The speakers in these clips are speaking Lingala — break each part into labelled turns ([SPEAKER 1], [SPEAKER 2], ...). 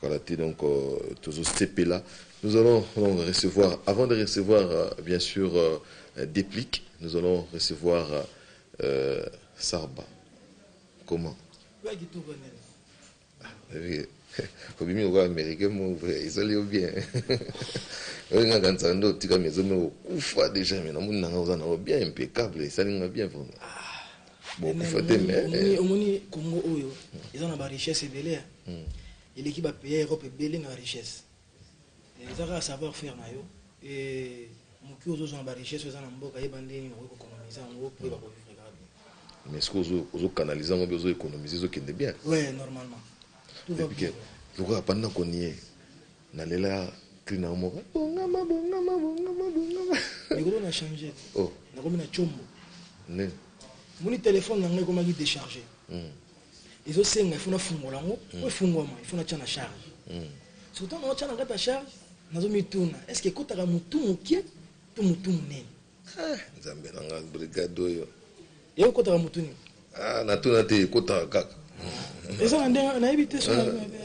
[SPEAKER 1] Voilà dit donc euh, tozo sepela. Nous allons donc recevoir, avant de recevoir euh, bien sûr euh, déplic, nous allons recevoir euh, Sarba. Comment obimi lokola américain mo vrai ezali yo bien olinga kanisa nde otika mezo me okufa déjà me namoni nanga oza nango bien impeccable esali nga bien vraiment bokufa te mais omoni eh. omoni Congo
[SPEAKER 2] oyo eza na ba richesse ebele ya hmm. eleki ba pays Europe ebele na richesse eh, eza kaka savoir faire na yo et moki ozozwa na ba richesse eza na mboka yeba ndenge okoki kokonomiza yango mpo yeba kovivre kaka bien mais soki
[SPEAKER 1] ozokanalize yango mpe ozo économiser ezokende bien ouais normalement
[SPEAKER 2] lokola banda
[SPEAKER 1] konie Na lela cri na yo moko bongama bongama bongama
[SPEAKER 2] bongama. Likolo na change oh na komi na
[SPEAKER 1] combo
[SPEAKER 2] nini
[SPEAKER 1] moni
[SPEAKER 2] telephone na nga ekomaki decharge mm. ezo senga ifo na fungola yango mm. po efungwama ifo na tia na charge mm. soki ntango naotia na kati ya charge nazo mituna est ce que ekotaka mutu mokie to mutu monene Eh nzambe
[SPEAKER 1] na nga brigade oyo. Y'a kota ka
[SPEAKER 2] mutu nini? Ah na tuna te
[SPEAKER 1] kota kaka. eza na
[SPEAKER 2] ndenge nayebi te ah,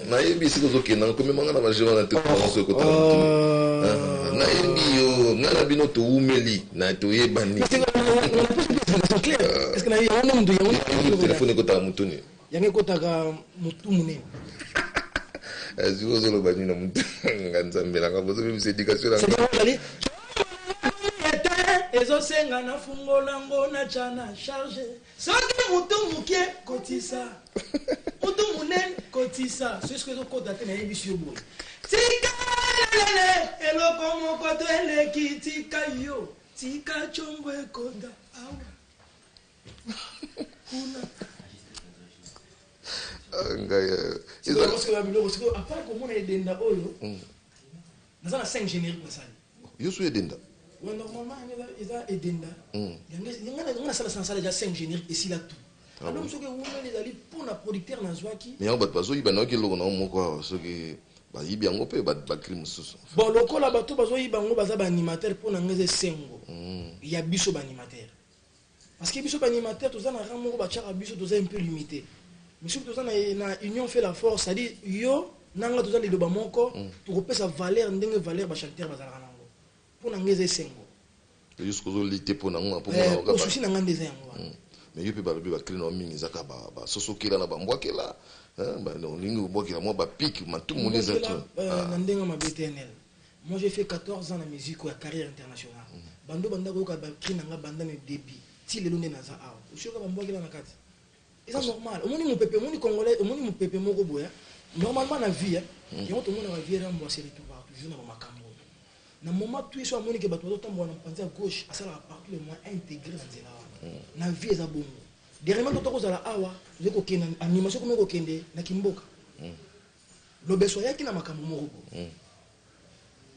[SPEAKER 2] nayebi esika
[SPEAKER 1] ozokenda komema nga na bagere wana te oso ekotala motu ah. ah, nayebi yo nga na bino towumeli na toyebani
[SPEAKER 2] telefone ekotala motuni
[SPEAKER 1] Yango ekotaka
[SPEAKER 2] mutu munene.
[SPEAKER 1] azwi ozoloba nini na motu nga nzambe nanga bozobimisa edikatio nanga
[SPEAKER 2] ezosenga na fungola ngo na tya na charge soki motu moke kotisa motu monene kotisa soki ezokota te nayebisi yo boye tikalelele eloko moko to eleki tika yo tika congo ekota awa yosu edenda normalement eza edenda
[SPEAKER 1] hmm.
[SPEAKER 2] yango nasala sansala eza 5 générique esila tout ah donc soki ewumeli ezali mpo na producteur nazwaki mais yango bato bazoyiba nayoki
[SPEAKER 1] eloko nango moko awa soki bayibi yango mpe bakili mosusu bon lokola bato
[SPEAKER 2] bazoyiba yango baza baanimateur mpo na ngai eza esengo hmm. ya biso baanimateur Parce que biso ba animateurs toza na rang moko batiaka biso toza un peu limite. Mais soki toza na, na union fait la force, c'est-à-dire yo na nga toza liloba moko, mm. tokopesa valeur ndenge valeur ba chanteur bazalaka na yango. Mpo na nga eza esengo. Yo soki ozoli
[SPEAKER 1] te mpo na nga mpo eh, mona kaka. Susi na nga nde eza
[SPEAKER 2] yango wana. Mm. Mais yo mpe balobi
[SPEAKER 1] ba cri na mingi eza kaka ba, ba sosokela na ba mbwakela. Hein, ba olingi kobwakela mwa ba pic matumu nde eza. Euh, ah. Na ndenge mabe
[SPEAKER 2] TNL. Moi j'ai fait 14 ans na musique oyo ya carrière internationale banda obanda koyoka ba cris na nga banda na debut ti lelo nde naza awa osi oyoka ba mbuakela na kati eza normal omoni mupepe omoni congolais omoni mupepe moko boye normalement na vie hein yango tomonaka vieux rambo ase retour ba toujours na ba makambu oyo na moment tout ye soki amoni ke batu bazo tambola na panzi ya gauche asalaka partout le moyen a integrer na nzela wana na vie eza bongo dernièrement tokozala awa tozali kokende animation ekomi kokende na kimboka Lobeso ayaki na makambo moko boye.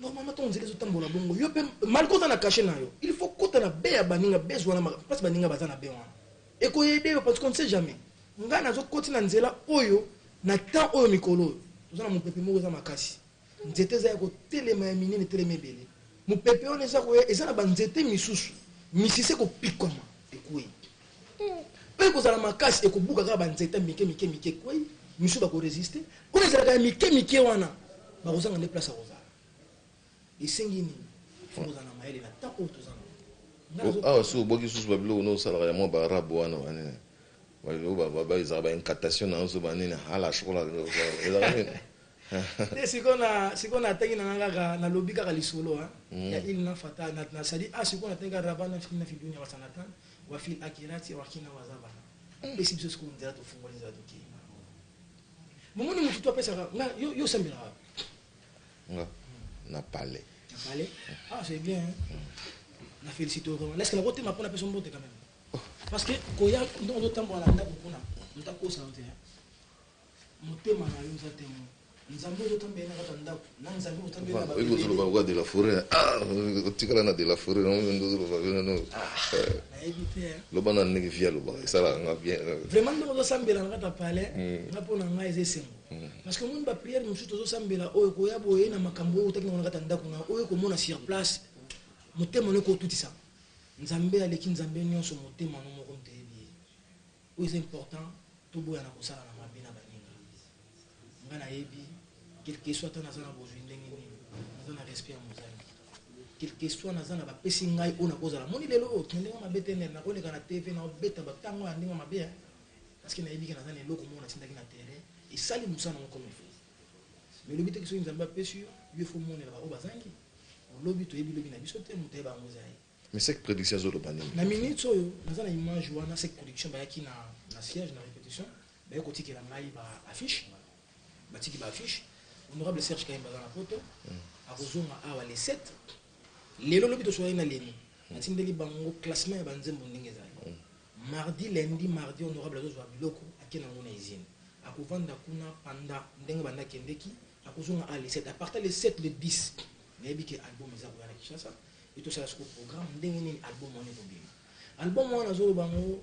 [SPEAKER 2] Normalement to nzela ezotambola bongo yo pe malgré oza na cachet na yo il faut kota na baie ya baninga base wana place baninga baza na baie wana ekoyede yo parce qu'on ne sait jamais ngai nazokoti na nzela oyo na temps oyo mikolo oyo toza na mopepe moko eza makasi nzete eza ya kotelema ya minene etelema ebele mopepe wana eza koya eza na banzete misusu misise kopikwama ekwei Mpe ekozala makasi, ekobuka kaka banzete mike mike mike, ekwei, misusu bakoresiste. Kuna ezalaka ya mike mike wana, bakozanga nde place ya kozala. Esengi nini? Fo kozala na mayele na temps oyo toza nango. Awa soki
[SPEAKER 1] obwaki lisusu babiloko nde osalaka ya mwa baarabe wana banini, babiloko ezalaka ba incantation na nso banini, hala shokola, ezalaka nini? Te,
[SPEAKER 2] sikoyo na, sikoyo natangi na ngai kaka, nalobi kaka lisolo, hein, ya Ilna Fatah, na, na, c'est-à-dire, ah, sikoyo natangi kaka Rabbana fi, na fi dunya hasanatan, Wa fil akirati wakina wazabana pesi biso sikoyo nzela tofungoli nzela tokei na yango momoni
[SPEAKER 1] motu to
[SPEAKER 2] apesaka nga yo yo sambelaka nga
[SPEAKER 1] na
[SPEAKER 2] palais na palais ah c'est bien hein? na félicite vraiment est-ce que nakotema mpo napesa mbote quand même parce que koya ndongo totambola na ndako kuna moto akosana te hein? Motema na yo eza temo. Nzambe ozo tambela na kata ndaku. Na Nzambe ozo tambela na ba. Oyebi ozo loba lokola de la
[SPEAKER 1] foret. Ah, otikala na de la foret. Non, non, ozo loba bino no. Nayebi te. Loba na ndenge via loba. Esala nga bien. Vraiment ndenge ozo sambela
[SPEAKER 2] na kata palais. Nga pona nga eza esengo. Parce que moni ba prière mosusu tozo sambela oyo koya boye na makambo oyo otaki na kata ndaku na oyo komona sur place. Motema no ko tutisa. Nzambe aleki Nzambe nionso motema no moko. Oyo eza important toboya na kosala na mabe na baninga nga na yebi quelque soit ata naza na bozui ndenge nini naza na respect ya mozangi quelque soit naza na bapesi ngai oyo nakozala omoni lelo oyo tende nga mabe te nene nakoleka na TV na obeta ba tango ya ndenge mabe hein parce que nayebi ke naza na eloko moko natindaki na terrain esali mosala nango comme il faut mais lobi te ke soki nzambe apesi yo yo faut omonela ba oyo bazangi lobi toyebi lobi na biso te moto ayeba yango eza ye. Mais sec prediction
[SPEAKER 1] azo loba nini? Na minutes oyo
[SPEAKER 2] naza na image wana sec prediction bayaki na na siège na repetition baye kotikela ngai ba affiche batiki ba affiche honorable Serge Kahimba aza na poto akozonga awa le 7 lelo lobi tosolaki na leni natindeli bango classement ya banzembo ndenge ezali mardi lundi mardi honorable azozwa biloko ake na yango na usine akovanda kuna panda ndenge banda kendeki Nakozua nga a le 7 a partir le 7 le 10 nayebi ke album eza koya na Kinshasa et tosala siko programme ndenge nini album wana ekobima album wana nazoloba ngo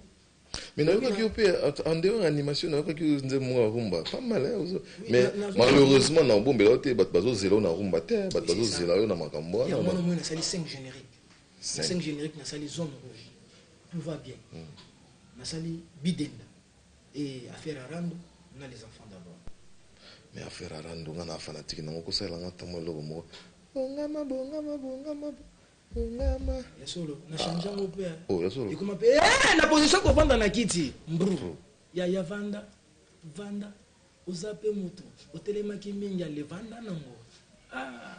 [SPEAKER 2] Mais nayoka
[SPEAKER 1] ki ope en dehors ya animation nayoka ki nze mwa rumba pas mal hein ozo mais malheureusement na obombela yo te bat bazo zela na rumba te hein, bat bazo zela yo na makambo wana. Ya mwana mwana na sali 5
[SPEAKER 2] générique. 5 générique na sali zone rouge. Tout va bien. Hmm. Na sali bidenda. Eeh affaire ya rando na les enfants d'abord. Mais
[SPEAKER 1] affaire ya rando nga na fanatique nango ko salela nga ata mua eloko moko bongama bongama bongama bongama
[SPEAKER 2] Ya solo na change yango pe hein. Oh ya solo. Ekoma pe
[SPEAKER 1] eeh na position
[SPEAKER 2] ya ko vanda na kiti mbru. Yaya vanda vanda oza pe mutu otelemaki mingi ale vanda nango aah.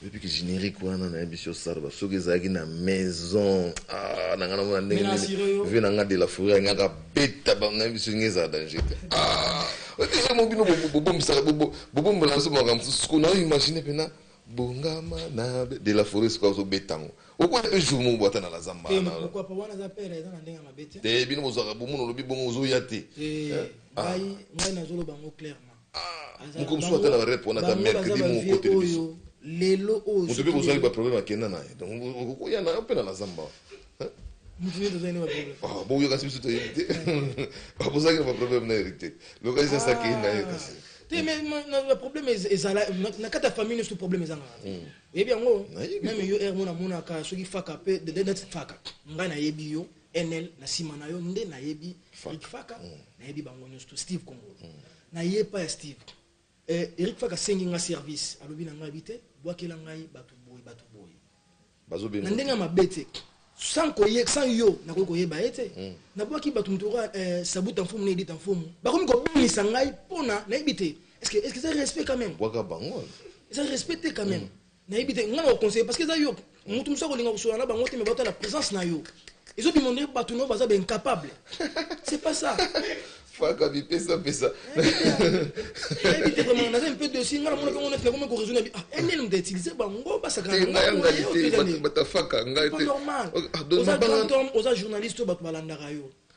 [SPEAKER 1] Depuis generique wana na yebisi yo sarba soki ezalaki na maison ah na nga na mona ndenge nini vie na nga de la fourrière nga ka beta ba na yebisi nga ezala danger te ah déjà mo bino bobombisaka bobombola nso makambo mosusu ko na imagine mpena bongama na de la fourrière soki ozobeta yango okoya mpe jour moko bwata na lazamba
[SPEAKER 2] te bino bozwaka bomono
[SPEAKER 1] olobi bongo ozoya te
[SPEAKER 2] ngai nazoloba yango clairement Mukomsu
[SPEAKER 1] ata na ba rep wana ata mercredi moko koteli biso. Lelo oyo.
[SPEAKER 2] Mutu pe ozwaki ba problème
[SPEAKER 1] akenda na ye. Donc okoya na yo pe na la zamba. Mutu
[SPEAKER 2] nini tozali na ba problème? Ah bon yokasi biso toyebi
[SPEAKER 1] te. Ba bozaki na ba problème na Eric te. Lokasi sasa akei na ye kasi. Te mais na
[SPEAKER 2] problème ezala na kata famille nyoso problème ezanga. Oyebi yango? Meme yo er mona mona ka soki faka pe de de faka. Ngai na yebi yo. Enel na sima na yo nde nayebi Eric Faka mm. nayebi bango nyonso to Steve Congo mm. naye epa ya Steve eh, Eric Faka asengi nga service alobi na ngai bi te bwakela ngai bato boye bato boye
[SPEAKER 1] na ndenge ya mabe te
[SPEAKER 2] sans koye sans yo nakoki koyeba ye te mm. nabwaki bato moto oka eh, sabuta mfumu na edita mfumu bakomi kobelisa ngai mpona nayebi te est ce que eza respect quand même
[SPEAKER 1] eza respect te
[SPEAKER 2] quand même Nayebi te nga na ko conseiller parce que eza yo mutu mususu akolinga kosolola na bango te mais bato na presence na yo ezo bima ndenge bato na yo baza ba incapable c'est pas ça faka
[SPEAKER 1] bipesa pesa nayebi
[SPEAKER 2] te vraiment naza mpe dosi nga namona mpe ngo neti nakomi koraisonne bi ah nl moto utilise bango basakanabatafaka ngai te oza journaliste oyo bato balandaka yo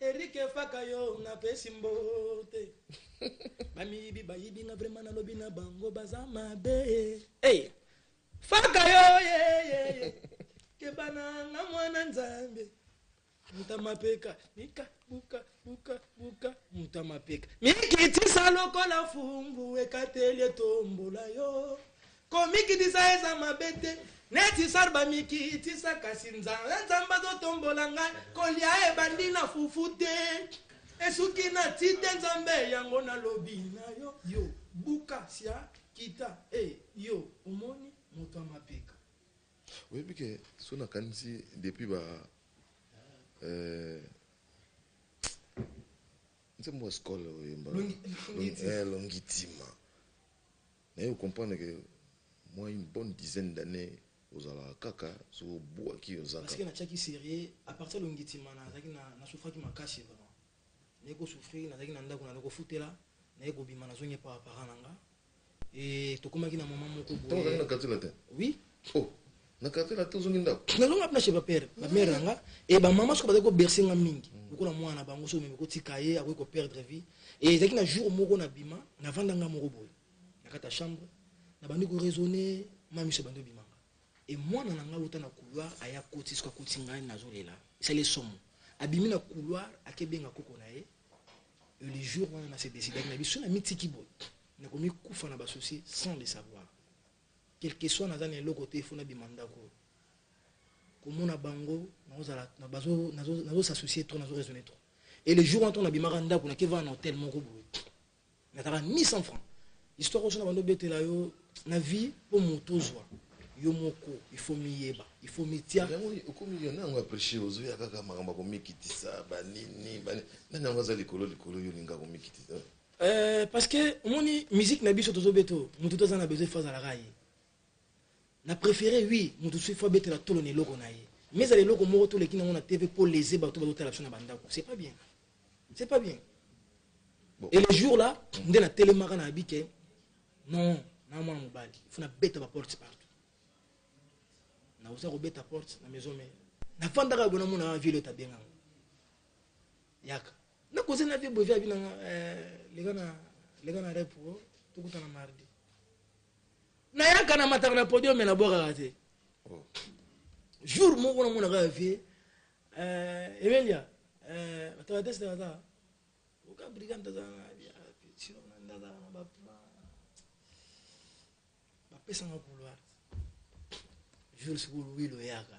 [SPEAKER 1] Eric faka yo na pesi mbote ba
[SPEAKER 2] miyibi ba yibi nga vraiment na lobi na bango baza mabe hey faka yo ye ye ye kebana nga mwana nzambe mutamapeka nika buka buka buka mutamapeka mikitisa lokola fumbu ekateli etombola yo Komikitisa eza mabe te neti sar bamikitisa kasi nzala nzambe azotombola ngai kolia ebandi na fufu te esuki na ti te nzambe yango nalobi na yo yo buka sia kita e eh, yo omoni moto ya mapeka
[SPEAKER 1] oyebi ke so nakanisi depuis ba euh, nzembo ya skole oyemba longitima Naye o comprendre que mwa une bonne dizaine d'annees ozalaka kaka soki obuaki oza Parce que kaka. natiaki serieux
[SPEAKER 2] à partir ya longitimana nazalaki na na souffraki makasi vraiment naye ko souffrir nazalaki na ndaku naloko futela naye kobima nazongi epa ba parents na nga et tokomaki na moment moko Tango boye ozalaki na quartier latin? oui
[SPEAKER 1] Oh!
[SPEAKER 2] na
[SPEAKER 1] quartier na to zongi ndako na longa na chez ba père
[SPEAKER 2] ba mère nga et ba maman soka ko bercer nga mingi mm. lokola mwana bango so meme ko tika ye akoki ko perdre vie et ezaki na jour moko na bima na vanda nga moko boye na kata chambre na bandi ko raisonner mami so bandi bima et mwana na nga uta na couloir aya koti soka koti ngai na zolela c'est le somme abimi na couloir akebenga koko na ye le jour wana na se décidaki na biso na mitiki boye nakomi kufa na basouci sans le savoir Quelque soit naza na eloko te il faut nabima ndaku oyo. Komona bango nakozala nazo nazo nazo s'associer trop nazo raisonner trop. Et le jour wana ntango nabimaka ndaku na keva na hotel moko boye. Nataka 1100 francs. Histoire oyo nabando betela yo na vie po moto ozwa yo moko il faut miyeba il faut mitia yango okomi yo nango
[SPEAKER 1] apreche ozoya kaka makambo ya komikitisa banini nani yango aza likolo likolo yo olinga komikitisa Euh, parce que
[SPEAKER 2] omoni musique na biso tozo beto mutu toza na besoin faza la ye na préféré oui mutu soki fo abetela tolo na eloko na ye mais ezala eloko moko toleki nango na tv mpo lese bato bazotala biso na bandako c'est pas bien c'est pas bien bon. et le jour là nde natelemaka na abi ke non na mwana mobali fo nabeta baporte partout naoza kobeta porte na maison mare nafandaka boye namonaka ville oyo tabenganga yaka Na koze na vie bovi abi na nga eh, leka na leka na rep oh, tokutana mardi. Na yaka na mataka na podium na bwaka te. Oh. Jour moko na mona ka vie euh Emelia euh mataka test na ta. Oka brigand ta na vie. Sinon na na ba plan. Ba pesa nga couloir. Jour sikulu wilo yaka.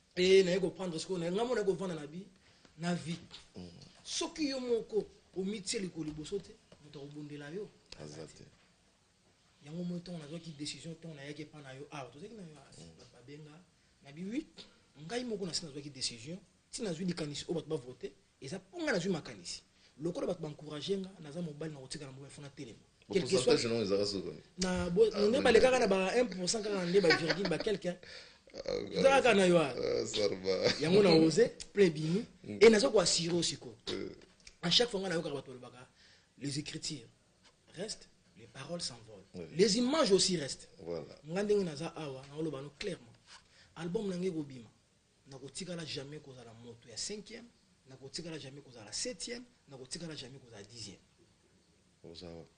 [SPEAKER 2] e naye koprendre sikoyo naye ngai mona kovanda na bi na vie soki yo moko omitie likolo liboso te moto akobundela yo aza te yango moi ntongo nazwaki décision ntongo nayaki epa na yo awa ah, tozalaki na yo ah, mm. babenga na bi 8 ngai moko nasi nazwaki décision ntina nazwi likanisi oyo bato bavote Eza po nga nazui makanisi lokola batu ba encourager nga naza mobali na kotika na mobali fona telema quelque soit
[SPEAKER 1] na bo ah, ne
[SPEAKER 2] ba lekaka na ba 1% kaka nde ba virgule ba quelqu'un ezalaka na yo
[SPEAKER 1] yango na ose
[SPEAKER 2] plein bimi e naza koassure o sikoyo à chaque fois ngai nayokaka bato balobaka les écritures restent les paroles s'envolent oui. les images aussi restent voilà. ngai ndenge
[SPEAKER 1] naza awa
[SPEAKER 2] naoloba no clairement album na ngai ekobima Nakotikala jamais kozala moto ya cinquième, nakotikala jamais kozala septième, nakotikala jamais kozala dixième. Oza
[SPEAKER 1] wapi?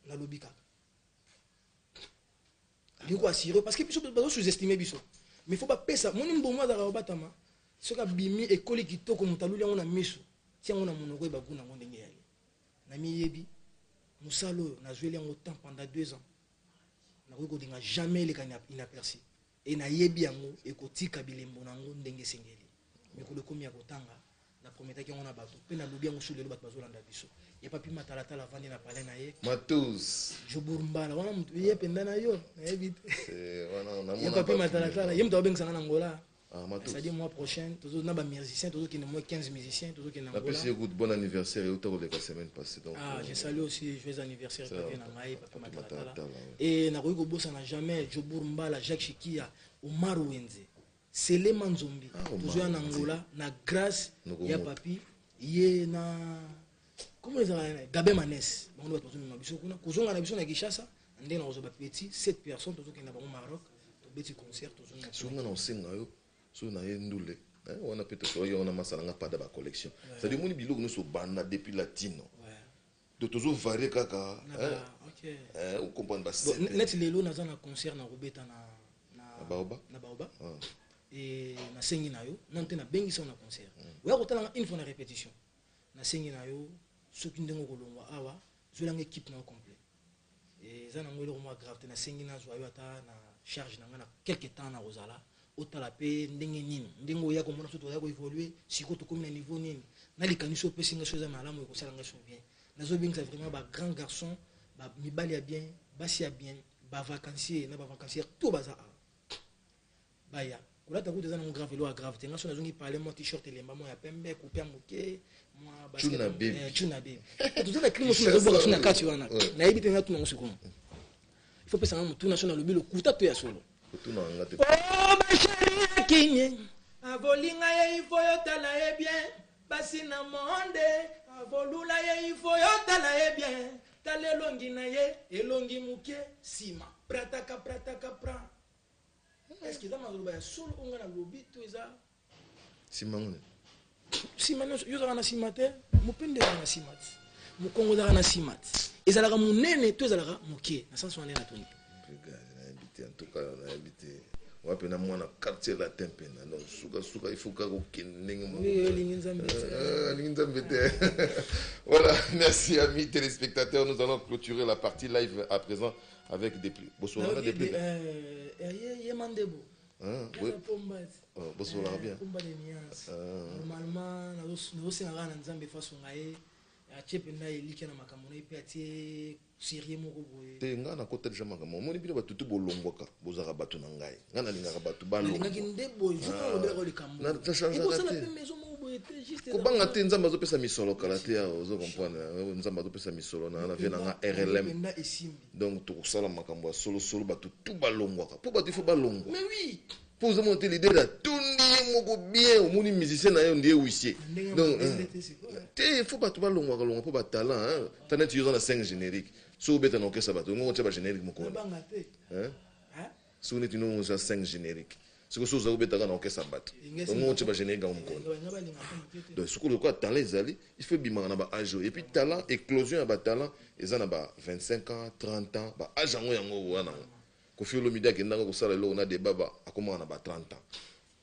[SPEAKER 1] Nalobi
[SPEAKER 2] kaka. Ndeko assuré parce que biso bazo sous-estimer biso. Mais faut bapesa moni mbongo azalaka kobatama soki abimi ekoli kitoko moto aluli yango na miso tia yango na monoko yeba kuna yango ndenge yali namiyebi mosala oyo nazweli yango temps pendant deux ans nakoki kolinga jamais eleka inaperci Et na yebi yango ekotika bilembo na yango ndenge esengeli. Mikolo ekomi ya kotanga, na prometaki yango na batu pe na lobi yango sur lelo batu bazo landa biso. Ya papi matalatala avandi na palais na ye. Matos.
[SPEAKER 1] Jobour mbala wana
[SPEAKER 2] mutu ye penda na yo na yebi te. Eh wana na
[SPEAKER 1] mona. Ya papi matalatala ye
[SPEAKER 2] mutu abengisa nga na Angola. Ah, c'est-à-dire mois
[SPEAKER 1] prochain
[SPEAKER 2] tozo na ba musiciens tozo kende moins 15 musiciens tozo kende Angola. Napesi écoute bon anniversaire
[SPEAKER 1] et autant que la semaine passée donc. Ah, euh, je salue aussi
[SPEAKER 2] joyeux anniversaire papi na ngai. e nakoki kobosana jamais jobour mbala jacques shikia omar wenze selema nzombi ah, tozoya na ngola na grâce ya papi ye na comment ezalaka gabe manes bango nde bato bazomema biso kuna kozonga na biso na kinshasa ndenge nakozwa bapeti 7 personne tozokenda bango maroc tobeti concert tozonga na osenga yo
[SPEAKER 1] soki na ye ndule eh, wana mpe tosoki yango na masala nga pada bacollection cetadi omoni biloko nyonso obanda depuis latino Donc tozo varie kaka eh
[SPEAKER 2] o comprendre
[SPEAKER 1] ba scène. Bon net
[SPEAKER 2] lelo naza na concert na kobeta na na Baoba. Na Baoba. Ah. Et na sengi na yo non te na bengi sa na concert. Mm. Oya kotala une fois na répétition. Na sengi na yo soki ndenge kolongwa awa zola nge équipe na complet. Eza nango eloko moko ya grave te nasengi nazua yo ata na charge na nga na quelque temps nakozala otala pe ndenge nini ndenge oya komona biso tozali ko evoluer sikoyo tokomi na niveau nini na likanisi opesi nga so eza malamu ekosala nga so bien nazobengisa vraiment ba grand garçon ba mibali ya bien basi ya bien ba vacancier na ba vacancier tout baza awa Baya. Kolata kutu eza nango grave eloko ya grave te. Nga soki nazongi palais mwa t-shirt elemba mwa ya pembe, coupe ya moke, mwa basket Chuna mwa- baby. eh, chuna baby. Toza na crime mosusu nazobwaka soki na kati wana. Ouais. Nayebi te natuna yango sikoyo. Il faut pesa nga motuna soki nalobi lokuta to ya solo. Kotuna nga
[SPEAKER 1] te. Oh ma chérie
[SPEAKER 2] ya kimie avolinga ye ifo yotala ye bien basi na monde avolula ye ifo yotala ye bien tala elongi na ye elongi moke nsima prataka prataka pra Est-ce que eza maloba ya solo oyo ngai nalobi to eza nsima
[SPEAKER 1] nini? nsima
[SPEAKER 2] nyonso yo ozalaka na nsima te mopende ezalaka na nsima te mokongo ezalaka na nsima te ezalaka monene to ezalaka moke na sense wana natuni nayebi
[SPEAKER 1] te antuka nayebi te wa mpe na mwana quartier latin mpe na donc sukasuka ifo kaka kokende ndenge mokoalingi
[SPEAKER 2] nzambe euh, te
[SPEAKER 1] voilà merci amis téléspectateurs nous allons clôturer la partie live à présent avec des plus bosolaka des plus ye
[SPEAKER 2] mandebo
[SPEAKER 1] bosolaka bien combat de nuance normalement
[SPEAKER 2] nazosenga kaka na nzambe faso ngaye atie mpenza elikya na makambo na ye mpe atie serie moko boye te ngai nakota deja
[SPEAKER 1] makambo omoni bino batutu bolongwaka bozalaka bato na ngai nga nalingaka bato
[SPEAKER 2] balongakobanga te nzambe azopesa
[SPEAKER 1] misolo kala te awa ozo comprendre nzambe azopesa misolo na na vie na nga rlm donc tokosala makambo ya solosolo bato tu balongwaka mpo bato ifo balongwa mpo
[SPEAKER 2] ozo mona te lide
[SPEAKER 1] na tondi ye moko bien omoni musicien na yo ndiye wisie donc te ifo bato balongwaka longwa mpo batalent taneti yo oza na 5 générique soki obeta na okesa bato ongo otia bagénérique mokoni Soki neti ndenge omonisi ya 5 generique sikoyo soki ozali kobeta kaka na orchestre ya bato ongo otie ba generique yango mokolo donc soki lokola talent ezali il faut ebimaka na ba age oyo et puis talent eclosion ya ba talent eza na ba 25 ans 30 ans ba age yango yango okoya na yango koffi olomide akendaka kosala eloko na debaba akomaka na ba 30 ans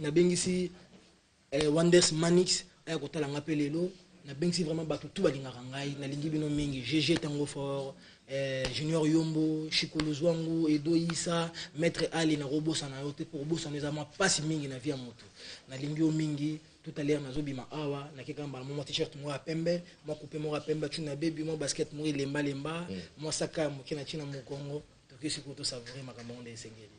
[SPEAKER 2] nabengisi eh, wonders manix aya kotala nga mpe lelo nabengisi vraiment bato tu balingaka ngai nalingi bino mingi gg tango fort eh, junior yombo shikoluzwangu edo isa maître ali nakobosana yo te mpo kobosana eza mwa mpasi mingi na vie ya moto nalingi yo mingi tout à l'heure nazobima awa nakeka mbala mwa t-shirt moko ya pembe mwa coupe moko ya pembe atuni na bebi mwa basket moko elembalemba mwa saka ya moke na ntina mokongo toke sikoyo tosavoure makambo yango nde esengeli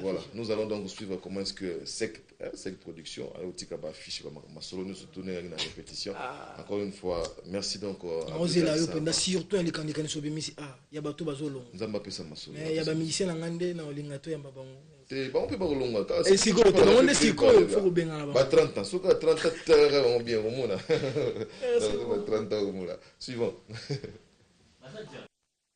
[SPEAKER 1] Voilà, nous allons donc suivre comment est-ce que cette hein, cette production a aussi ba fiche ba masolo nous surtout na na répétition. Ah. Encore une fois, merci donc euh, à Oser la yo penda
[SPEAKER 2] surtout les candidats qui sont bimisi ah, ya bato bazolo. Nzamba pesa masolo.
[SPEAKER 1] Mais ya ba musicien ngande
[SPEAKER 2] na olinga to ya ba bango. Te ba on peut ba
[SPEAKER 1] longa ka. Et siko to ba on
[SPEAKER 2] siko il faut benga la ba. Ba 30 ans, soka 30
[SPEAKER 1] ans tera on bien au mona. Ba 30 ans au mona. Suivant.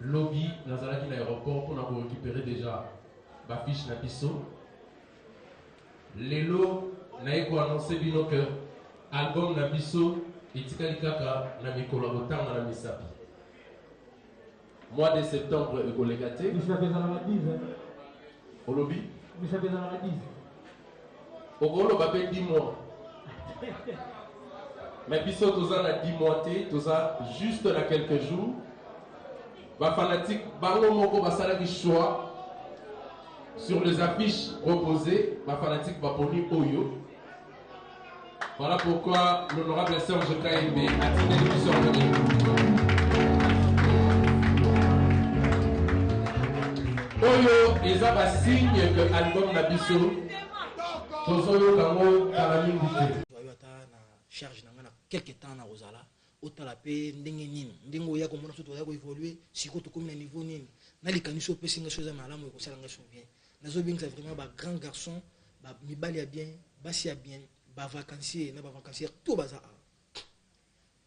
[SPEAKER 3] Lobi nazalaki na aeroport mpo na ko recuperer dejà ba fiche na biso. Lelo naye ko annoncer bino que album na biso etikali kaka na mikolo ya kotanga na misapi. Mois de septembre ekoleka te. Misapi ezalaka 10 hein. Olobi? Misapi ezalaka 10. Okoloba pe 10 mois. Mais biso toza na 10 mois te, toza juste na quelques jours. Ba fanatiques bango moko basalaki choix sur les affiches proposées, ba fanatiques baponi oyo Voilà pourquoi l'honorable Serge Kaimbe a tiré le sort oyo eza basigne ke album na biso tozoyoka yango kala mingi te charge
[SPEAKER 2] na ngai na quelque temps nakozala otala mpe ndenge nini ndenge oya komona so toya koevolue sikoyo tokomi na niveau nini na likanisi opesi ngai so eza malamu ekosala ngai so bien nazobengisa vraiment bagrand garçon mibali ya bien basi ya bien bavacancier na bavacancier to baza awa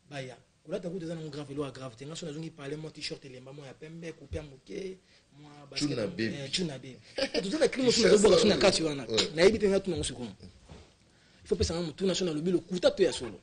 [SPEAKER 2] baya kolata kutu eza nango grave elo ya grave te ngai so nazongi parle mwa t-shirt elemba mwa ya pembe kupe ya moke mwacunabe eh, toza na klimo so nazobwaka so na kati wana nayebi te ngai tuna yango sikoyo il faut pesa ngai motuna so nalobi lokuta to ya solo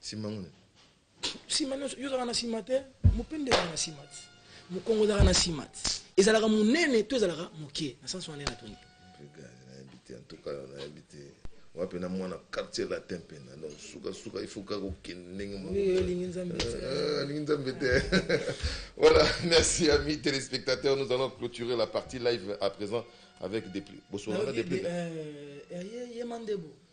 [SPEAKER 2] sima
[SPEAKER 1] nguna sima
[SPEAKER 2] nyonso yo ozalaka na sima te mopende ezalaka na sima te mokongo ezalaka na sima te ezalaka monene to ezalaka moke na sansi wana natuni nayebi te
[SPEAKER 1] antuka yo nayebi te wa mpe na mwana quartier latin mpena donc sukasuka ifaut kaka okende ndenge moalingi nzambe euh, te voilà merci amis téléspectateurs nous allons clôturer la partie live à présent avec des plis bosolaka des plis euh, euh,
[SPEAKER 2] yemandebo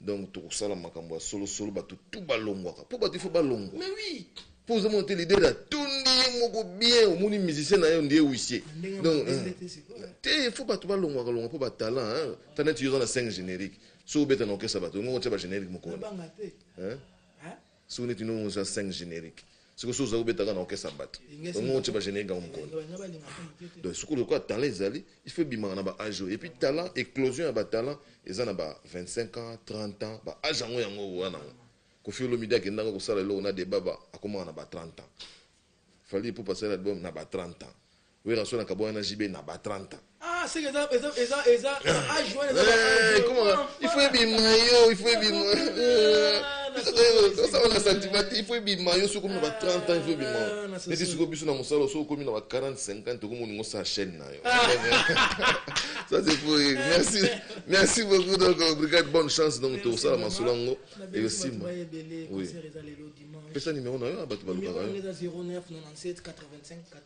[SPEAKER 1] donc tokosala makambo ya solosolo bato tu balongwaka mpo bato ifo balongwa mais oui mpo
[SPEAKER 2] oza mona te lidele
[SPEAKER 1] atondi ye moko bien omoni musicien na yo ndiye wisie donc euh, te ifo bato balongwaka longwa mpo batalent ta neti yo oza na 5 générique soki obeta na orchestre bato ongo otya bagénérique mokolo Soki neti no oza oza 5 generique siko soki oza obeta kaka na orchestre ya bato yango otie ba generique yango mokoni donc soki lokola talent ezali il faut ebimaka na ba age oyo et puis talent eclosion ya ba talent eza na ba 25 ans 30 ans ba age yango yango oza nango Koffi Olomide akendaka kosala eloko na Debaba akomaka na ba 30 ans Fally Ipupa asali album na ba 30 ans Werrason akabwana na JB na ba 30 ans. Ah seke eza eza
[SPEAKER 2] eza eza age wana eza ba age.
[SPEAKER 1] Ekoma il faut ebima yo il faut ebima. Sasa wana sentiment il faut ebima yo soko na ba 30 ans il faut ebima. Neti soko biso na mosala soko komi na ba 40 50 okomo ningo sa chaîne na yo. Ça c'est pour merci merci beaucoup donc brigade bonne chance donc to sala masolo ngo et le simba. Oui. Pesa numéro na yo bato balukaka yo. 09 97
[SPEAKER 2] 85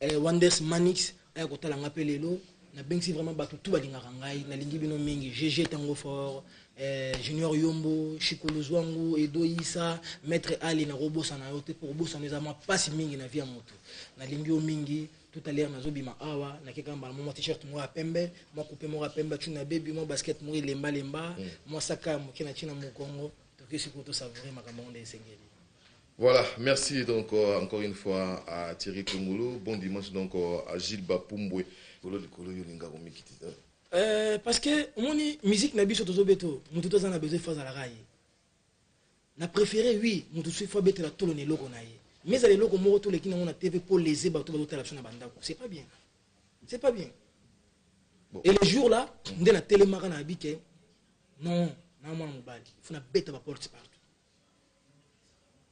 [SPEAKER 2] Eh wonders manix aya kotala nga pe lelo na bengisi vraiment batu tout balingaka ngai nalingi bino mingi GG tango fort eh, junior yombo shikulu zwangu edo isa maître ali nakobosana yo te po kobosana eza mwa pasi mingi na vie ya motu nalingi yo mingi tout à l'heure nazobima awa nakeka mbala mwa t-shirt moko ya pembe mwa coupe moko ya pembe acuna bebi mwa basket moko elemba lemba mwa saka ya moke na ntina mokongo tokesi ko tosavoure makambo yango nde esengeli Voilà
[SPEAKER 1] merci donc encore une fois à Thierry Kungulu bon dimanche donc à Gilles Bapumbwe kolo likolo yo linga komikiti hein? euh,
[SPEAKER 2] parce que omoni musique na biso tozobeto motu toza na besoin fazalaka ye na préféré oui motu soki fo abetela tolo na eloko na ye mais ezala eloko moko toleki nango na tv mpo lese bato bazotala biso na bandako c'est pas bien c'est pas bien bon. et le jour là nde natelemaka na abike non na mwana mobali fo na beta baporte partout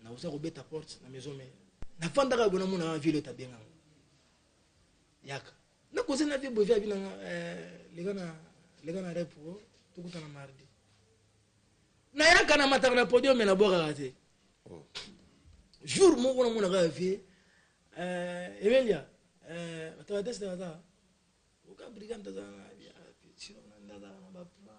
[SPEAKER 2] nakoza kobeta porte na maison mère nafandaka boye namona na ville oyo tabengaka yaka nakoza na vie boye vie abinanga eh, leka na leka na repo oh, tokutana mardi nayaka na mataka na podium me nabwakaka te oh. jour moko namonaka vie eh, emelia eh, batabateste baza oka brigade aza na bia sino na ndazala na baplan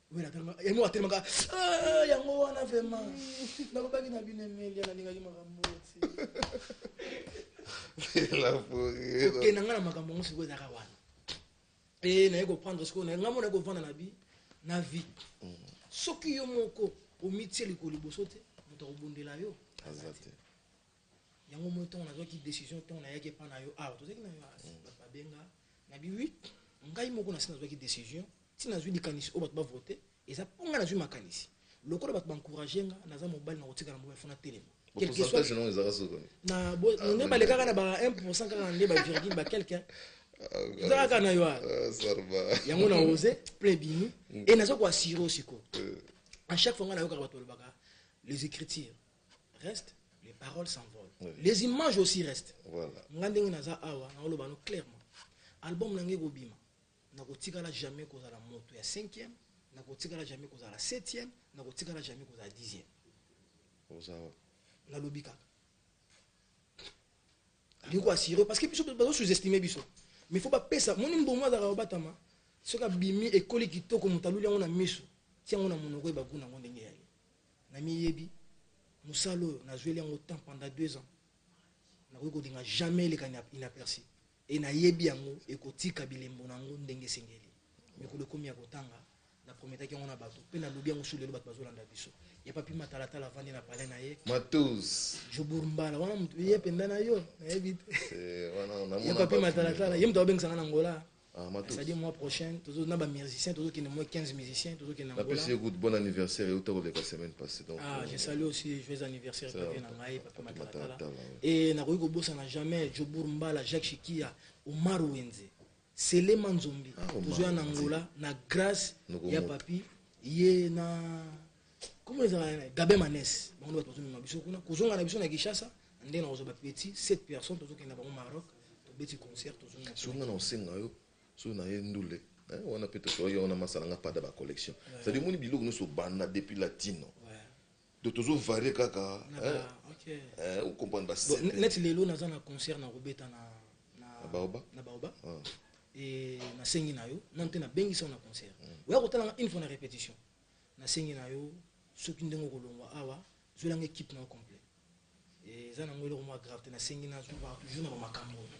[SPEAKER 2] yango atelemaka ah, yango wana vraiment nakobaki na bino emelia nalingaki makambo
[SPEAKER 1] okenda ngai na makambo yango
[SPEAKER 2] sikoyo ezaka wana e eh, naye koprendre sikoyo naye ngai mona kovanda na bi na vie mm. soki yo moko omitie likolo liboso te moto akobundela yo yango moi ntango nazwaki décision ntango nayaki epa na yo awa tozalaki na bato babenga na bi wi ngai moko nasi nazwaki décision ti nazwi likanisi oyo bato bavote eza mpo ngai nazwi makanisi lokola bato bancourage nga naza mobali na kotikala mobali fona telema
[SPEAKER 1] nde
[SPEAKER 2] balekaka na ba 1 pourcent kaka nde ba virgule ba quelque eza kaka na yo yango
[SPEAKER 1] na ose
[SPEAKER 2] plein bimi e naza koassire osiko à chaque fois ngai nayokaka bato balobaka les écritures reste les paroles s'envolent oui. les images aussi reste voilà. nga ndenge naza
[SPEAKER 1] awa naoloba
[SPEAKER 2] no clairement album na ngai ekobima nakotikala jamais kozala moto ya cinquième nakotikala jamais kozala septième nakotikala jamais kozala dixième nalobi kaka ndiko assuré parce que biso bazo sous-estime biso mais faut bapesa moni mbongo azalaka kobatama soki abimi ekoli kitoko moto aluli yango na miso ti yango na monoko ye bagu nango ndenge yaye Na miyebi, musala oyo na zueli yango temps pendant deux ans, na koki ko linga jamais eleka inaperci et na yebi yango eko tika bilembo na yango ndenge esengeli. Mikolo ekomi ya ko tanga, na prometaki yango na batu pe na lobi yango sur lelo batu bazo landa biso. Ya Papy Matalatala avandi na palais na ye. Matus.
[SPEAKER 1] Jobour Mbala,
[SPEAKER 2] wana mutu ye penda na yo, na yebi te. Eh, wana na
[SPEAKER 1] mona. Ya Papy Matalatala, ye
[SPEAKER 2] mutu azo bengisa nga na Angola. Ah, matos. C'est-à-dire mois
[SPEAKER 1] prochain, tozo
[SPEAKER 2] na ba musiciens, tozo kende moins 15 musiciens, tozo kende Angola. Napesi écoute, bon
[SPEAKER 1] anniversaire et autant que la semaine passée. Donc, ah, euh, je salue aussi
[SPEAKER 2] joyeux anniversaire ça, Papa Nangaï, Papa Matalatala. Et nakoki kobosana jamais Jobour Mbala, Jacques Chikia, Omar Wenze, Selema Nzombi, ah, tozo ya na Angola na grâce ya papi ye na Comment ils ont Gabé Manès, bango bato bazomema biso kuna kozonga na biso na Kinshasa ndenge nakozwa ba petit 7 personnes tozokenda bango Maroc tobeti concert tozonga soki nga na osenga yo
[SPEAKER 1] soki na ye ndule eh, wana mpe tosoki yango na masala nga pada ba collection cest omoni biloko nyonso obanda depuis latino donc tozovarie kaka
[SPEAKER 2] ocomprendre
[SPEAKER 1] banet lelo naza
[SPEAKER 2] na concert na kobeta na baoba na baoba ah. nasengi na yo nano te nabengisa yo na concert mm. oya kotalanga une fois na répétition Nasengi na yo soki ndenge okolongwa awa zuela nga equipe na yo complet eza nango eloko mwa grave te nasengi na zuwa toujours na ba makambo oyo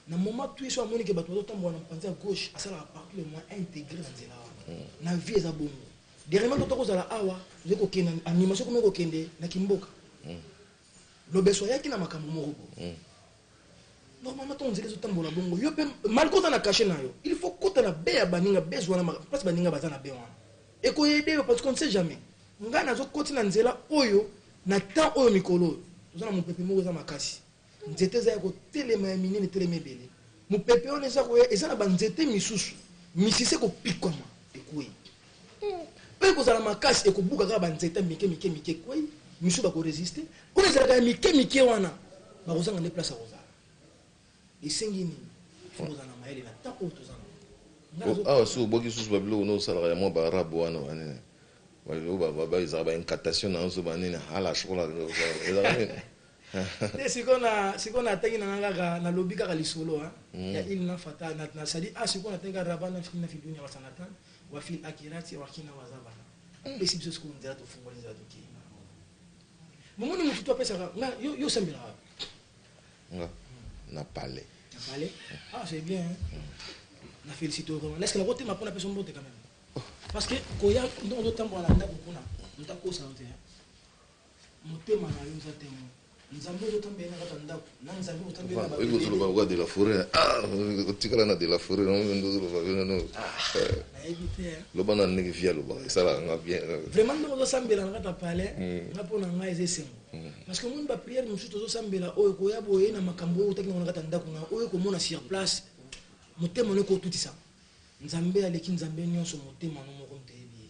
[SPEAKER 2] na moment tout yeso amoni ke bato bazotambola na mopanzi ya gauche asalaka partout le moyen integre na nzela wana hmm. na vie eza bongo dernièrement toto kozala awa tozali kokende animation komi kokende na kimboka hmm. lobeso ayaki na makambo moko bo hmm. normalement ntango nzela ezotambola bongo yo mpe malgre oza na kashe na yo il faut kota na be ya baninga bezwa na mpasi baninga baza na be wana ekoyede yo parce qu'on ne sait jamais ngai nazokoti na nzela oyo na temps oyo mikolo oyo toza na mopepe moko eza makasi nzete eza ya kotelema ya minene etelema ebele mopepe wana eza koya eza na banzete misusu misisa ekopikwama ekwei Mpe ekozala makasi, ekobuka kaka banzete ya mike mike mike, ekwei, misusu bakoresiste. Kuna ezalaka ya mike mike wana, bakozanga nde place ya kozala. Esengi nini? Fo kozala na mayele na temps oyo toza nango. Awa
[SPEAKER 1] soki obwaki lisusu babiloko nde osalaka ya mwa baarabe wana banini, babiloko ezalaka ba incantation na nso banini, hala shokola, ezalaka nini? Nde sikoyo
[SPEAKER 2] na, sikoyo natangi na ngai kaka, nalobi kaka lisolo, hein, ya Ilna Fatah, na, na, c'est-à-dire, ah, sikoyo natangi kaka Rabbana fina fi dunya wasanatan, Wa fil akirati wa kina wa zabana Hum esi biso sikoyo nzela tofungoli nzela tokeyi na yango Momoni mutu to apesaka nga yo yo sambelaka wapi Nga
[SPEAKER 1] na palais Na palais ah
[SPEAKER 2] c'est bien hein Na félicite vraiment est-ce que na kotema pona peso mbote quand même parce que koya ndongo totambola na ndaku kuna mutu akosa yo te hein Motema na yo eza te yango. Nzambe ozo tambela na kata ndaku na nzambe ozo tambela na ba bebe. Ozo loba kwa de la foret.
[SPEAKER 1] Ah, otikala na de la foret na ozo ndozo loba bino no. Ah, na yebi te.
[SPEAKER 2] Hein. Loba na ndenge
[SPEAKER 1] via loba. Sala nga bien. Vraiment ndeko ozo sambela
[SPEAKER 2] na kata palais. Mm. Na pona nga eze sengo. Mm. Parce que mon ba prière mususu tozo sambela oyo ko ya boye na makambo oyo otakina na kata ndaku na oyo ko mona sur place. Motema ne ko tutisa. Nzambe aleki nzambe nyonso motema no moko mteyebi.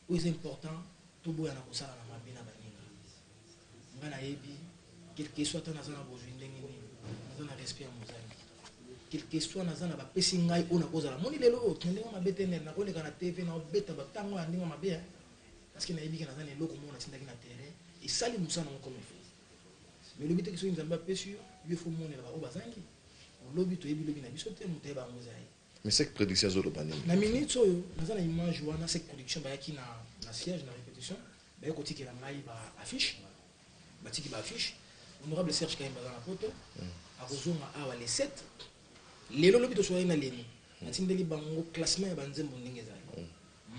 [SPEAKER 2] Oyo eza important toboya na kosala na mabe na baninga nga na yebi quelque soit ata naza na bozui ndenge nini naza na respect ya mozangi quelque soit naza na bapesi ngai oyo nakozala moni lelo oyo tende nga mabe te nene nakoleka na tv na obeta batango ya ndenge mabe parce que na yebi ke naza na eloko moko natindaki na terrain esali mosala ngo comme il faut mais olobi te ke soki nzambe apesi yo yo faut monela ba oyo bazangi lobi toyebi lobi na biso te moto ayeba yango eza ye. Mais sec prediction
[SPEAKER 1] azo loba nini? Na minutes oyo
[SPEAKER 2] naza na image wana sec prediction bayaki na na siège na repetition baye kotikela ngai ba affiche batiki ba affiche honorable Serge Kahembe aza na poto akozonga awa le 7 lelo lobi tosolaki na leni natindeli bango classement ya banzembo ndenge ezali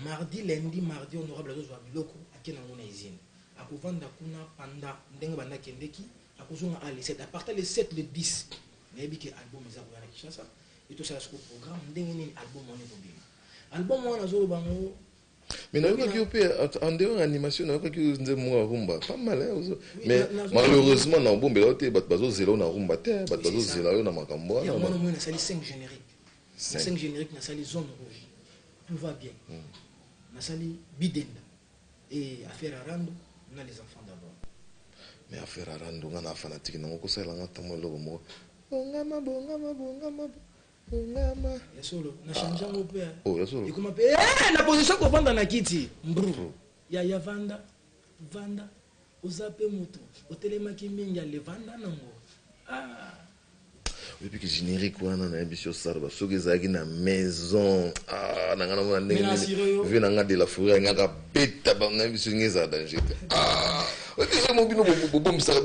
[SPEAKER 2] mardi lundi mardi honorable azozwa biloko ake nango na usine akovanda kuna panda ndenge banda kendeki Nakozonga awa le 7, à partir le 7, le 10, nayebi que album eza koya na Kinshasa, et tosala siko programme ndenge nini album wana ekobima. Album wana nazoloba yango mais nayokaki
[SPEAKER 1] yo mpe en dehors animation nayokaki yo nzembo moko ya rumba pas mal mais malheureusement na obombela yo te bato bazozela yo na rumba te bato bazozela yo na makambo wana yango namoni nasali 5
[SPEAKER 2] générique 5 générique nasali zone rouge tout va bien hmm. nasali bidenda Et affaire ya rando na les enfants d'abord. Mais affaire
[SPEAKER 1] ya rando nga na fanatique nango ko salela nga ata mua eloko moko bongama bongama bongama bongama
[SPEAKER 2] ya solo na change yango pe ah. oh ya solo ekoma pe
[SPEAKER 1] eh na
[SPEAKER 2] position ko vanda na kiti mbru ya ya vanda vanda oza pe mutu otelemaki mingi ya levanda nango ah
[SPEAKER 1] Depuis generique wana nayebisi yo sarba soki ezalaki na maison ah, nanga namona ndenge nini vie nanga de la fourrière ngaka beta bango nayebisi yo nge ezala danger te ah, oyebi mo bino bobombisaka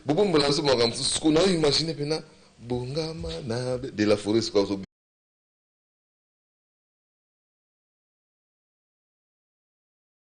[SPEAKER 1] bobombola biso makambo mosusu sikoyo nayo imagine mpena bongama na de la fourrière sikoyo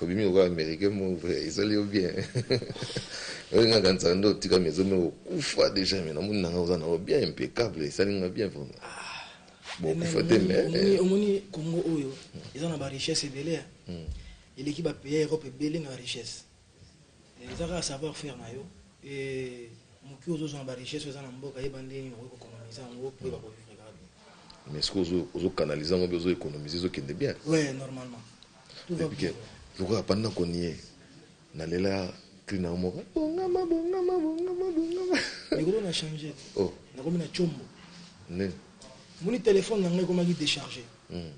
[SPEAKER 1] Obimi lokola americain moko vrai esali yo bien oyo nga kanisa nde otika maison moko okufa deja mais namoni nanga oza nango bien impeccable esali nga bien vraiment ah, bon okufa te mais eh. omoni Congo oyo
[SPEAKER 2] eza na ba richesse ebele hmm. eleki ba pays ya Europe ebele na richesse Eza kaka savoir faire na yo et mukie ozo zwa na ba richesses oyo eza na mboka yeba ndenge nini okoki ko economiser yango po oyeba ko vivre kaka bien. Mais sikoyo
[SPEAKER 1] ozo
[SPEAKER 2] ozo
[SPEAKER 1] canaliser yango bien ozo economiser ezo kende bien? Ouais normalement
[SPEAKER 2] tout va bien.
[SPEAKER 1] Lokola pendant qu'on y est na lela cri na yo moko bongama bongama bongama bongama.
[SPEAKER 2] Likolo na changer oh nakomi na
[SPEAKER 1] tshombo.
[SPEAKER 2] Nini?
[SPEAKER 1] Omoni
[SPEAKER 2] telephone na ngai ekomaki decharger. Hum.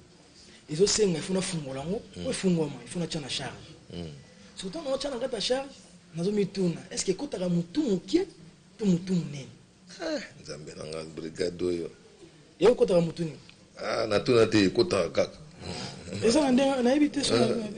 [SPEAKER 2] ezo senga il faut na fungola ngo mm. po efungwama il faut na tia na charge mm. surtout na tia na kata charge nazo mituna est ce que ekotaka mutu mukie to mutu munene eh, nzambe
[SPEAKER 1] na nga
[SPEAKER 2] brigade
[SPEAKER 1] oyo
[SPEAKER 2] ye
[SPEAKER 1] ekotaka mutu nini ah natuna te ekotaka kaka
[SPEAKER 2] eza na ndenge nayebi te eh,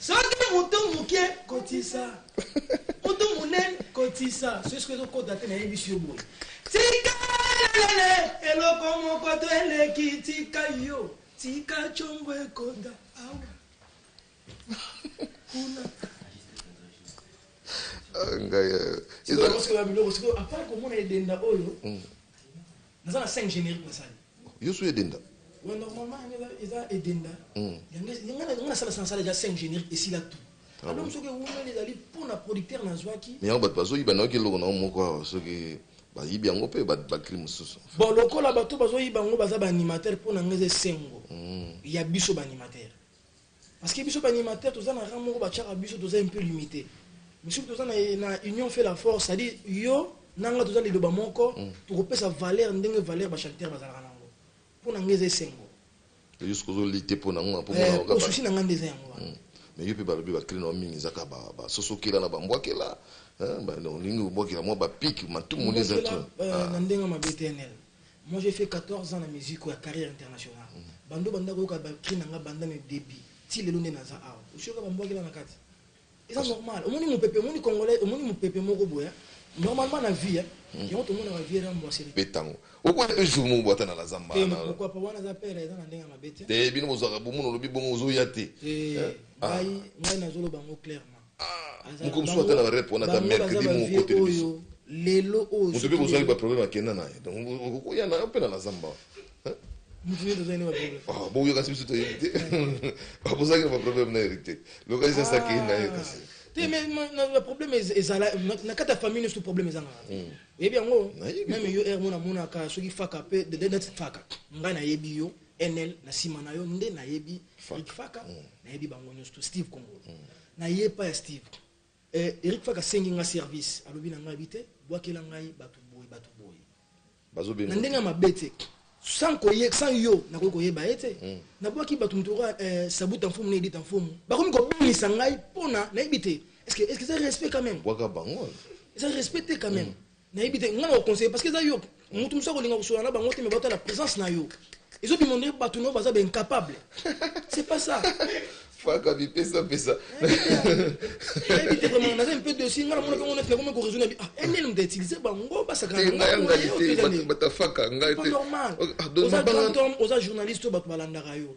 [SPEAKER 2] Soki mutu mukie kotisa mutu munene kotisa soki soki ezokota te nayebisi yo boye tika lelele eloko moko to eleki tika yo tika congo ekota awa kuna ah, ngai eh, apart komona edenda oyo mm. Naza na cinq generique na sali. Yo su edenda.
[SPEAKER 1] Ouais
[SPEAKER 2] normalement yango eza eza edenda. Yango nga na nga na sala sala dejà cinq generique esila tout. Album soki ewumeli ezali po na producteur na zwaki. Mais yango batu bazo yiba nayoki
[SPEAKER 1] eloko na yo moko awa soki ba yibi yango pe ba ba cri mususu. Bon lokola batu
[SPEAKER 2] bazo yiba yango baza ba animateur po na nga eza esengo ya biso ba animateur. Parce que biso ba animateur toza na rang moko ba tiaka biso toza un peu limite. Mais soki toza na na union fait la force, c'est à dire yo na nga toza liloba moko, toko pesa valeur ndenge valeur ba chanteur ba zalaka na ngo. Po na nga eza esengo. Mais yo soki ozo
[SPEAKER 1] lutter po na ngo po mona ngo kaka. Po souci na nga nde eza
[SPEAKER 2] yango wana. Mais yo pe ba lobi
[SPEAKER 1] ba cris na yo mingi eza kaka ba ba soso kela na ba mbwa kela hein ba olingi ko bwakela mwa ba pic matumoli eza trop. Na ndenga mabe
[SPEAKER 2] TNL. Moi j'ai fait 14 ans na musique oyo ya carrière internationale banda obanda koyoka ba cris na nga banda na debut ti lelo nde naza awa osi oyoka ba mbuakela na kati eza normal omoni mupepe omoni congolais omoni mupepe moko boye hein normalement na vie hein hmm. yango tomonaka vie rambo asili betango okoya pe
[SPEAKER 1] jour moko bwata na la zamba te pourquoi pas wana za
[SPEAKER 2] père eza na ndenge mabe te te bino bozaka bomono
[SPEAKER 1] lobi bongo ozoya te te eh, ah. ngai
[SPEAKER 2] ngai nazoloba ngo clairement Ah, moko mosusu
[SPEAKER 1] ata na ba rep wana ata mercredi moko okoteli biso lelo oyo moto
[SPEAKER 2] mpe kozwaki ba problème
[SPEAKER 1] akenda na ye donc okoya na yo mpe na na zamba
[SPEAKER 2] ah, boyo kasi biso toyebi
[SPEAKER 1] te abozalaki na ba problème na hérité lokasi sasa akei na ye ah. kasi te mais na
[SPEAKER 2] problème ezala na kati ya famille nyonso problème ezanga hmm. oyebi yango meme yo r mona amonaka soki faka mpe faka ngai nayebi yo Enel na sima na yo nde nayebi Eric Faka mm. nayebi bango nyonso to Steve Kongolo mm. naye epa ya Steve eh, Eric Faka asengi nga service alobi na ngai bi te bwakela ngai bato boye bato boye
[SPEAKER 1] na ndenge ya mabe te
[SPEAKER 2] sans koye sans yo nakoki koyeba ye te mm. nabwaki bato moto oka eh, sabuta mfumu na edita mfumu bakomi kobangisa ngai mpona nayebi te est ce que eza respect quand même
[SPEAKER 1] eza respect te
[SPEAKER 2] quand même Nayebi te nga na ko conseiller parce que eza yo mutu mususu akolinga kosola na bango te mais batala presence na yo ezo bima nde bato na yo baza ba incapable c'est pas ça faka
[SPEAKER 1] bipesa pesa nayebi
[SPEAKER 2] te vraiment naza mpe dosi nga namona mpe ngo neti nakomi koraisonne bi ah enel moto utilise bango basakanabatafaka
[SPEAKER 1] ngai
[SPEAKER 2] te oza journaliste oyo bato balandaka yo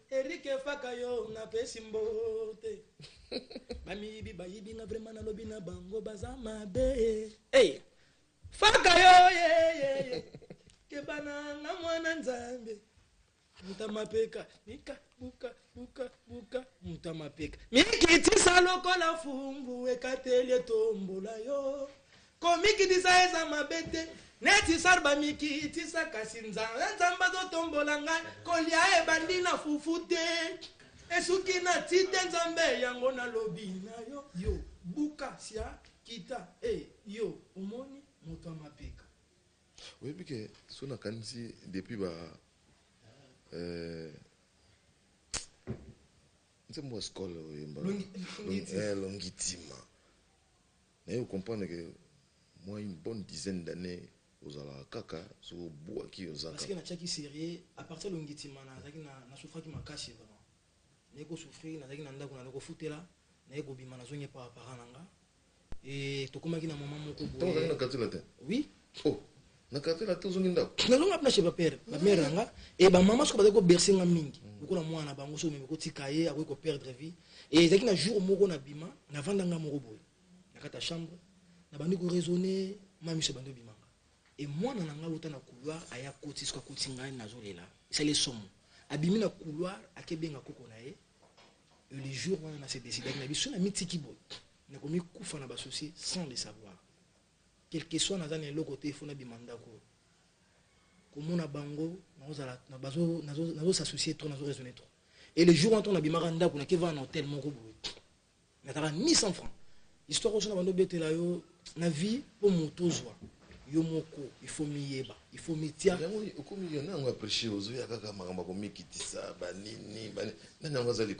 [SPEAKER 1] Eric faka yo
[SPEAKER 2] na pesi mbote ba miyibi ba yibi nga vraiment na lobi na bango baza mabe hey faka yo ye ye ye kebana nga mwana nzambe mutamapeka nika buka buka buka mutamapeka mikitisa lokola fungu ekateli etombola yo Komikitisa eza mabe te neti sar bamikitisa kasi nzala nzambe azotombola ngai kolia ebandi na fufu te esuki na ti te nzambe yango nalobi na yo yo buka sia kita e eh, yo omoni moto ya mapeka oyebi
[SPEAKER 1] ke so nakanisi depuis ba euh, nzembo ya skole oyemba longitima Naye o comprendre que mua une bonne dizaine d'annees ozalaka kaka soki obuaki oza kaka. Parce que natiaki serieux
[SPEAKER 2] à partir ya longitimana nazalaki na na souffraki makasi vraiment naye ko souffrir nazalaki na ndaku naye kofutela naye kobima nazongi epa ba parents na nga et tokomaki na moment moko boye. Tango ozalaki na quartier latin?
[SPEAKER 1] Oui. Oh, na quartier na te ozongi ndako? Nazongi wapi na chez ba père,
[SPEAKER 2] ba mère na nga et ba maman soki bazali ko bercer nga mingi. Mm. Lokola mwana na bango soki omemi kotika ye akoki ko perdre vie. Et ezalaki na jour moko na bima, na vanda nga moko boye. Na kata chambre, na bandi ko raisonner, ma miso bandi obima nga. Et mwana na nga wuta na couloir aya koti soki akoti ngai nazo lela. Esali ye somo. Abimi na couloir ake benga koko na ye. Et le jour wana na se décide na biso na mitiki boye. Na komi kufa na ba soucis sans le savoir. Quelque soit naza na eloko te il faut nabima ndaku komona bango nakozala bazo nazo nazo s'associer trop nazo raisonner trop et le jour wana nabimaka ndaku na kevana na hotel moko boye nazalaka ni 100 francs histoire oso na bando betela yo na vie mpo moto ozwa yo moko il faut miyeba il faut mitia yango okomi yo nango
[SPEAKER 1] apprécie ozoya kaka makambo akomikitisa banini nani yango aza